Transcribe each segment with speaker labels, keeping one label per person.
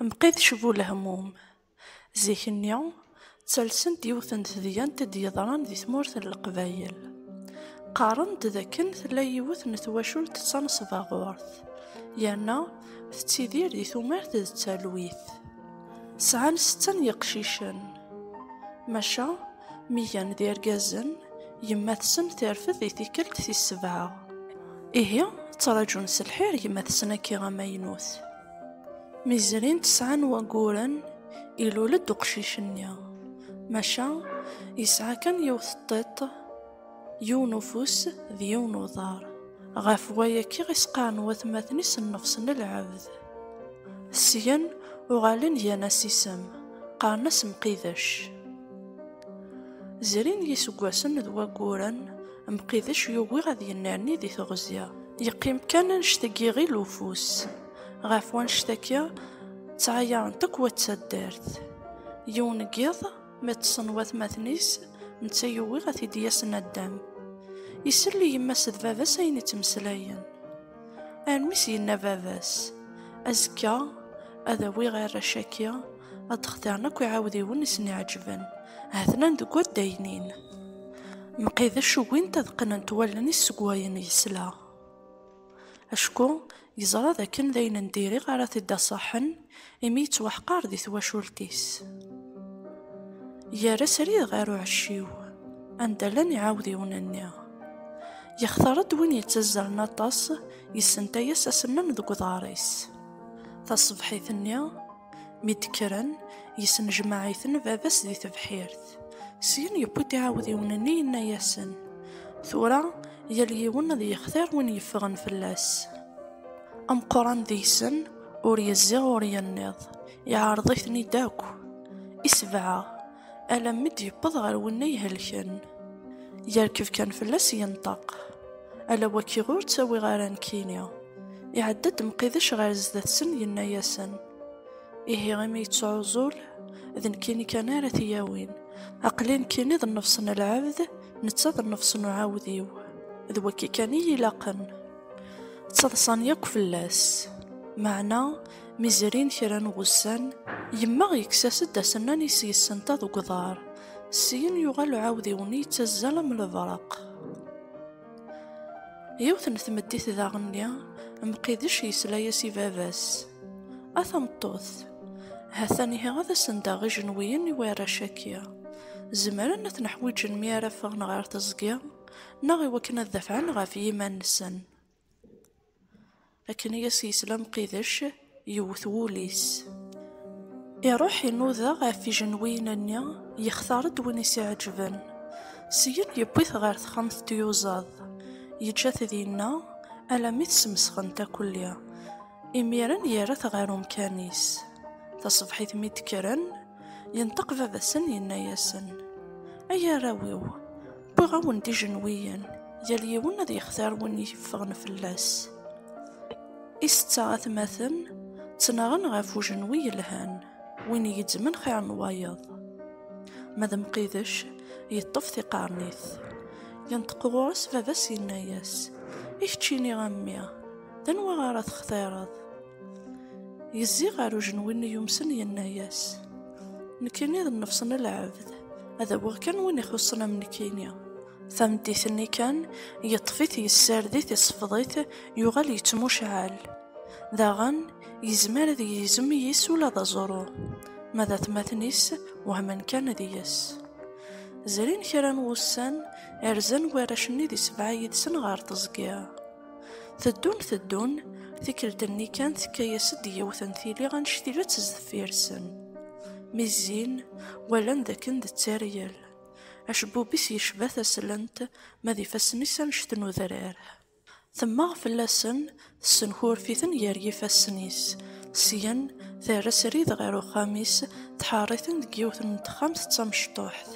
Speaker 1: Mqidec bu lehmum. Zik-nni, ttalsent yiwet n tedyant i d-yeḍran di tmurt n Leqbayel. Qqaren-d d akken tella yiwet n twacult d tanesbaɣurt, yerna tettidir di tumert d talwit. Sɛan setta n yeqcicen, maca Mi gan d irgazen, yemma-tsen terfed di tikkelt tis sebɛa. Ihi, ttraǧun s lḥir yemma-tsen akka amaynut. Mi zrin tesɛa n wayyuren, ilul-d uqcic-nni. Maca, yesɛa kan yiwet n tiṭ. Yiwen ufus d yiwen uḍar. Ɣef waya kkiɣ isqaren n watmaten-is nnefs n lɛebd. Syen uɣalen gan-as isem, qqaren-as Mqidec. Zrin yiseggasen d wagguren, Mqidec yugi ad yennerni di teɣzi. Yeqqim kan annect n yiɣil ufus. Ɣef wannect-agi, ttɛayarent akk wat taddart. Yiwen n yiḍ, Mi ṭṭsen watmaten-is, netta yuwi ad t-id-yas naddam. Isell i yemma-s d baba-s ayen ittmeslayen. Armi s-yenna baba-s, azekka ad awiɣ arrac-agi, ad d-xtiren akk iɛawdiwen i sen-iɛeǧben, ha-ten-an deg waddaynin. Mqidec ugint ad qqnent wallen-is seg wayen yesla. Acku Yeẓra d akken d ayen n diri ara t-id-aṣaḥen imi yettwaḥqar di twacult-is. Yerra srid ɣer uɛecciw anda llan iɛawdiwen-nni. Yextar-d win yettazzalen aṭas, yessentay-as asemmam deg uḍar-is. Taṣebḥit-nni, Mi d-kkren, yesnejmaɛ-iten baba-s di tebḥirt. Syin yewwi-d iɛawdiwen-nni yenna-yasen, Tura yal yiwen ad yextir win yeffɣen fell-as. Ameqqran deg-sen ur yezzi ur yenniḍ, iɛreḍ-iten-id akk. I sebɛa. alammi d-yewweḍ ɣer wennay helken yerkeb kan fell-as yenṭeq ala waki ur ttawiɣ ara nekkini iɛedda-d mqidac ɣer zdat-sen yenna-yasen ihi imi yettɛuẓul d nekkini kan ara t-yawin aqli nekkini d nnefs n lɛebd netta d nnefs n uɛawdiw d waki kan i yi-ilaqen ttaḍsan yakk fell-as meɛna Mi zrin kra n wussan, yemma yekkes-as-d asennan i s-yessenta deg uḍar. Syin yuɣal uɛawdiw-nni yettazzal am lebraq. Yiwet n tmeddit daɣen-nni, Mqidec yesla-as i baba-s. A tameṭṭut! Ha-t-an ihi ad asen-daɣ ijenwiyen i warrac-agi. Zemren ad ten-ḥwiǧen mi ara ffɣen ɣer teẓgi, neɣ i wakken ad dafɛen ɣef yiman-nsen. akken i as-yesla Mqidec yewwet wul-is. Iruḥ inuda ɣef ijenwiyen-nni, yextar-d win i s-iɛeǧben. Syin yewwi-t ɣer texxamt n tyuzaḍ, yeǧǧa-t dinna alammi tesmesxent akelli. Imiren yerra-t ɣer umkan-is. Taṣebḥit mi d-kkren, yenṭeq baba-sen yenna-yasen, Ay arraw-iw, wwiɣ-awen-d ijenwiyen, yal yiwen ad yextar win yeffɣen fell-as. Isetta atmaten ttnaɣen ɣef ujenwi yelhan, win igezzmen xir n wayeḍ. Ma d Mqidec, yeṭṭef tiqernit. Yenṭeq ɣur-s baba-s yenna-yas, I keččini a mmi, D anwa ara textireḍ? Yezzi ɣer ujenwi-nni yumsen yenna-yas, Nekkini d nnefs n lɛebd, ad awiɣ kan win ixuṣṣen am nekkini. Tameddit-nni kan, yeṭṭef-it, yessared-it, isefḍ-it, yuɣal yettmucɛal. Daɣen, yezmer ad yegzem yis ula d aẓru. Ma d atmaten-is, wehmen kan deg-s. Zrin kra n wussan, rzan warrac-nni di sebɛa yid-sen ɣer teẓgi. Teddun teddun, tikkelt-nni kan tekka-yas-d yiwet n tili anect-ilet sdeffir-sen. Mi zzin, walan dakken d tteryel. Acebbub-is yecba taslent, ma d ifassen-is anect n udrar. Temmeɣ fell-asen, tessenkurf-iten gar yifassen-is. Syen, terra srid ɣer uxxam-is, tḥeṛṛ-iten deg yiwet n texxamt d tamecṭuḥt.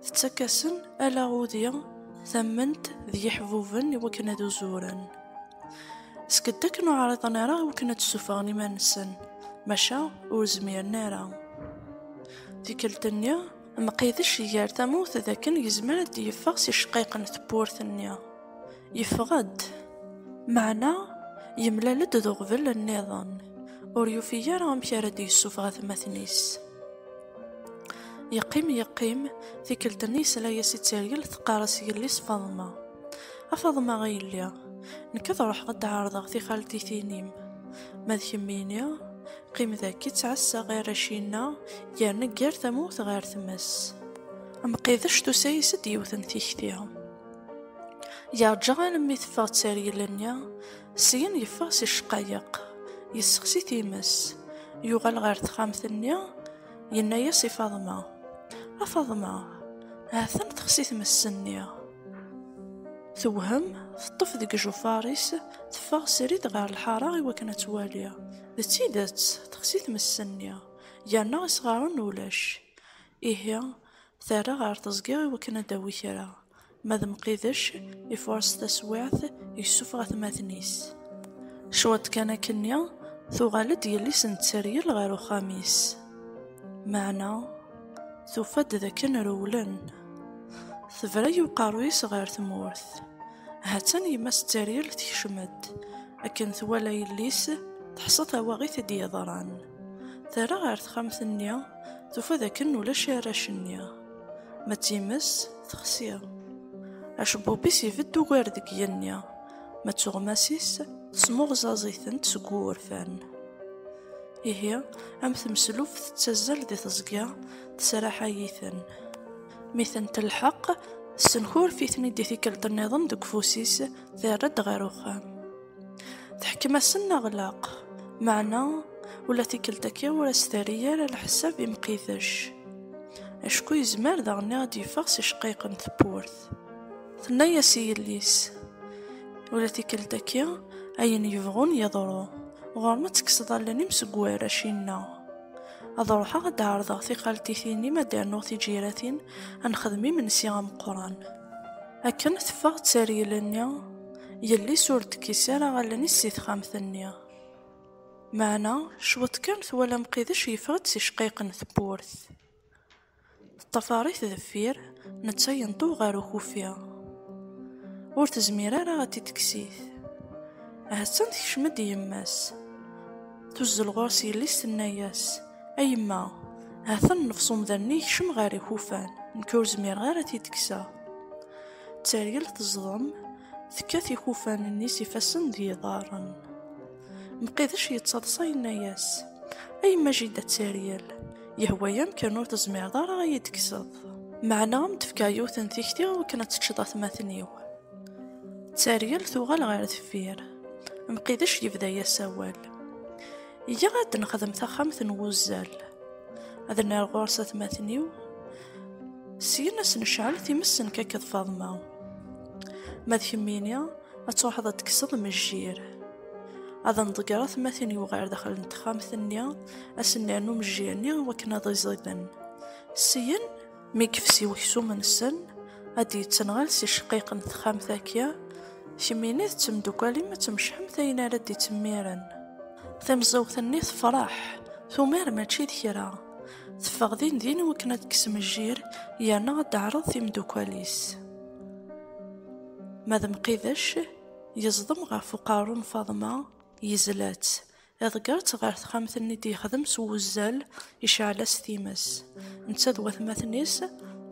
Speaker 1: tettak-asen ala udi tamment d yiḥbuben i wakken ad uzuren seg dakken ur ɛriḍen ara i wakken ad d-ssuffɣen iman-nsen maca ur zmiren ara tikkelt-nni mqidec gar tamawt d akken yezmer ad d-yeffeɣ si cqayeq n tewwurt-nni Yeffeɣ-d, meɛna yemlal-d d uɣbel nniḍen, ur yufi ara amek ara d-yessufeɣ atmaten-is. Yeqqim yeqqim, tikkelt-nni yesla-as i Tteryel teqqar-as yelli-s Faḍma, A Faḍma a yelli, nekk ad ruḥeɣ ad d-ɛerḍeɣ tixaltitin-im, ma d kemmini, qqim daki ttɛassaɣ arrac-inna yerna ggar tamawt ɣer tmes. Mqidec tusa-as-d yiwet n tikti. Yeṛǧa almi teffeɣ tteryel-nni, syin yeffeɣ si ccqayeq, yessexsi times, yuɣal ɣer texxamt-nni, yenna-yas i Faḍma, A Faḍma, ha-t-an texsi tmes-nni. Tewhem, teṭṭef deg ijufar-is, teffeɣ srid ɣer lḥaṛa i wakken ad twali. D tidet, texsi tmes-nni, yerna isɣaren ulac. Ihi, Terra ɣer teẓgi i wakken ad d-tawi kra. Ma d Mqidec, ifuṛes taswiɛt, yessufeɣ atmaten-is. Cwiṭ kan akkenni, tuɣal-d yelli-s n tteryel ɣer uxxam-is. Meɛna, tufa-d d akken rewlen. Tebra-y uqerruy-is ɣer tmurt. Ha-tt-an yemma-s n tteryel tekcem-d. Akken twala yelli-s, teḥṣa tawaɣit i d-yeḍran. Terra ɣer texxamt-nni, tufa d akken ulac arrac-nni. Ma d times, texsi. Acebbub-is ibedd ugar deg yigenni, ma d tuɣmas-is, tesmuɣẓaẓ-itent seg wurfan. Ihi, am tmeslubt tettazzal di teẓgi, tesraḥay-iten. Mi ten-telḥeq, tessenkurf-iten-id i tikkelt-nniḍen deg ufus-is, terra-d ɣer uxxam. Teḥkem-asen aɣlaq, meɛna ula tikkelt-agi ur as-terri ara leḥsab i Mqidec, acku yezmer daɣen ad d-yeffeɣ s iceqqayeq n tewwurt. Tenna-as i yelli-s, ula tikkelt-agi ayen yebɣun yeḍru, ɣur-m ad tekkseḍ allen-im seg warrac-inna. Ad ruḥeɣ ad d-ɛerḍeɣ tiqaltitin-im ad d-rnuɣ tiǧiratin, ad nexdem imensi ameqqran. Akken teffeɣ d taryel-nni, yelli-s ur d-tekkis ara allen-is si texxamt-nni. Meɛna cwiṭ kan twala Mqidec yeffeɣ-d si cqayeq n tewwurt. Teṭṭafar-it deffir, netta yenṭew ɣer ukufi. Ur tezmir ara ad t-id-tekksit. Ahattan tekcem-d yemma-s. Tuzzel ɣur-s yelli-s tenna-yas. A yemma, ha-t-en nnefṣ umdan-nni yekcem ɣer ikufan, nekk ur zmireɣ ara ad t-id-kkseɣ. Tteryel teẓḍem, tekkat ikufan-nni s ifassen d yiḍarren. Mqidec yettaḍsa yenna-yas, A yemma Jida Tteryel, yehwa-yam kan ur tezmireḍ ara ad yi-d-kkseḍ. Meɛna ad m-d-fkeɣ yiwet n tikti akken ad teččeḍ atmaten-iw. Tteryel tuɣal ɣer deffir, Mqidec yebda-yas awal. iga ad d-nexdem taxxamt n wuzzal ad nerr ɣur-s atmaten-iw syin ad s-necɛel times n kakeḍ Faḍma ma d kemmini ad truḥeḍ ad tekkseḍ mejjir ad nḍegger atmaten-iw ɣer daxel n texxamt-nni ad sen-nernu mejjir-nni wakken ad iẓiden syin Mi yefsi weksum-nsen, ad d-yettenɣal si cqiq n texxamt akya, kemm ini d temdukal-im ad tmecḥemt ayen ara d-ittemmiren. Tamẓiwt-nni tefreḥ, tumar mačči d kra. Teffeɣ din din wakken ad d-tesmejjir yerna ad d-teɛreḍ timdukal-is. Ma d Mqidec, yeẓdem ɣef uqerru n Faḍma, yezla-tt, Iḍegger-tt ɣer texxamt-nni i d-yexdem s wuzzal, iceɛl-as times. Netta d watmaten-is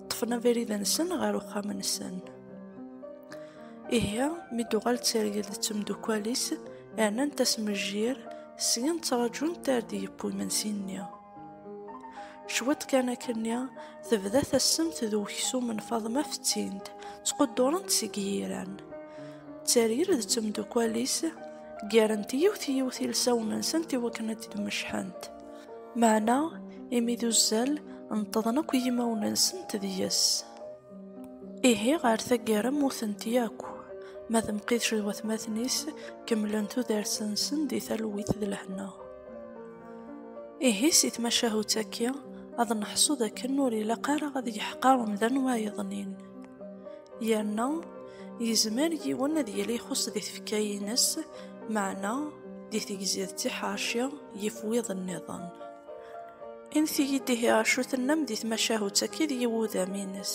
Speaker 1: ṭṭfen abrid-nsen ɣer uxxam-nsen. Ihi, mi d-tuɣal d tirgelt d temdukkal-is, rnant-as mejjir, syen ttraǧunt ar d-yeww imensi-nni. Cwiṭ kan akken-nni, tebda tassemt d uksum n Faḍma fettin-t, ttquddurent seg yiran. Tteryel d temdukal-is ggarent yiwet yiwet ilsawen-nsent i wakken ad d-mecḥent. Meɛna, imi d uzzal, nṭeḍen akk yimawen-nsent deg-s. Ihi ɣer taggara mmutent yakk, ma d Mqidec d watmaten-is kemmlen tudert-nsen di talwit d lehna. Ihi si tmacahut akki, ad neḥṣu d akken ur ilaq ara ad yeḥqer umdan wayeḍnin. Yerna, yezmer yiwen ad yili ixuṣ di tfekka-ines, meɛna di tegzi d tiḥerci yif wiḍ nniḍen. Init-iyi-d ihi acu tennam di tmacahut akki d yiwudam-ines?